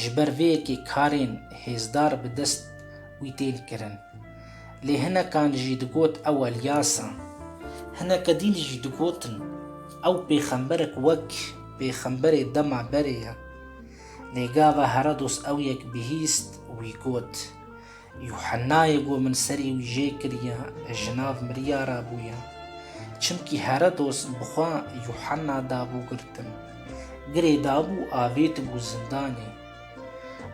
Ji ber vê yekê karên hêzdar bi dest wî tên kirin. Lê hinekan jî digot ew Elyas e. Hineke din jî digotin ew pêxemberek wek pêxemberê dema berê ye. Lê gava Herodos ew yek bihîst wî got, Yuhennayê ku min serê wî jê kiriye, ji nav miriya re bûye. Çimkî Herodos bi xwe Yuhenna dabû girtin. Girê dabû avêtibû zindanê.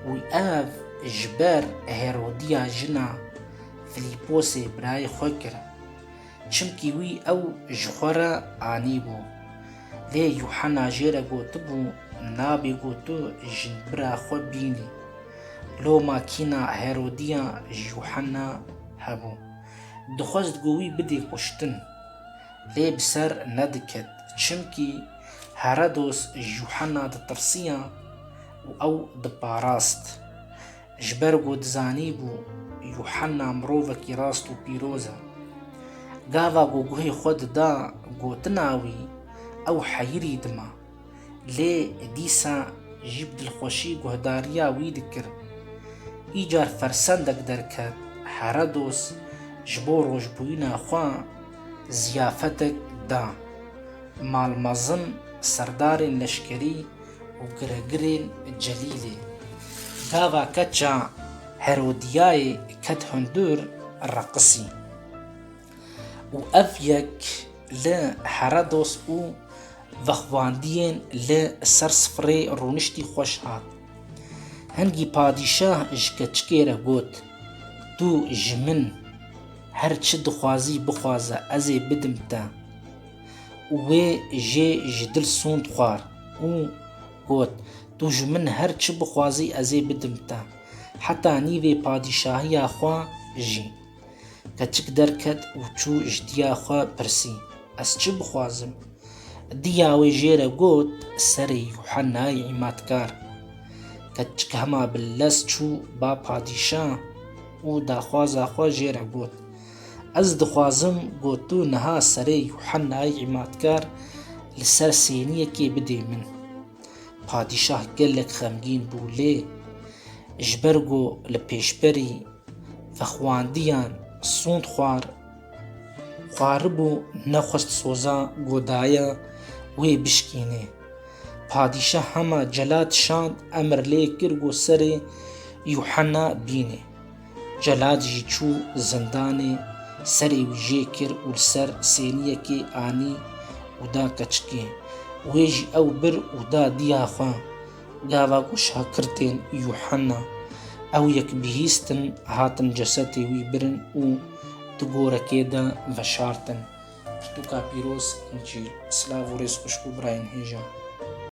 Wî ev ji ber Herodiya jina Filîposê birayê xwe kir. Çimkî wî ew ji xwe re anîbû. Lê Yuhena jê re gotibû, Nabê ku tu jinbira xwe bînî. Loma kîna Herodîya ji Yuhena hebû. Dixwest ku wî bidê kuştin. Lê bi ser nediket, çimkî Herodos ji Yuhena ditirsiya û ew diparast. Ji ber ku dizanîbû Yuhanna mirovekî rast û pîroz e. Gava ku guhê xwe dida gotina wî, ew heyirî dima. Lê dîsa jî bi dilxweşî guhdariya wî dikir. Îcar fersendek derket, Herodos ji bo rojbûyîna xwe ziyafetek da. Mal mezin serdarên leşkerî û giregirên Celîlê. Gava keça Herodiyayê ket hundir reqisî. Û ev yek li Heredos û vexwandiyên li ser sifrê rûniştî xweş hat. Hingî padîşah ji keçikê re got, Tu ji min her çi dixwazî bixwaze ez ê bidim te. û wê jê ji dil sûnd xwar û got, Tu ji min her çi bixwazî ez ê bidim te, heta nîvê padîşahiya xwe jî. Keçik derket û çû ji diya xwe pirsî, Ez çi bixwazim? Diya wê jê re got, Serê Yuhennayê Îmatkar. Keçik hema bi lez çû ba padîşah û daxwaza xwe jê re got, Ez dixwazim ku tu niha serê Yuhennayê Îmatkar li ser sêniyekê bidê min. Padîşah gelek xemgîn bû lê ji ber ku li pêşberî vexwandiyan sûnd xwar xwaribû nexwest soza ku daye wê bişkînê. Padîşah hema celad şand emr lê kir ku serê Yuhenna bînê. Celal jî çû zindanê, serê wî jê kir û li ser sêniyekê anî û da keçikê. Wê jî ew bir û da diya xwe. Gava ku şakirtên Yuhanna ew yek bihîstin, hatin cesetê wî birin û di gorekê de veşartin. Pirtûka pîroz, Încîl. Silav û rêz xweş bo birayên hêja.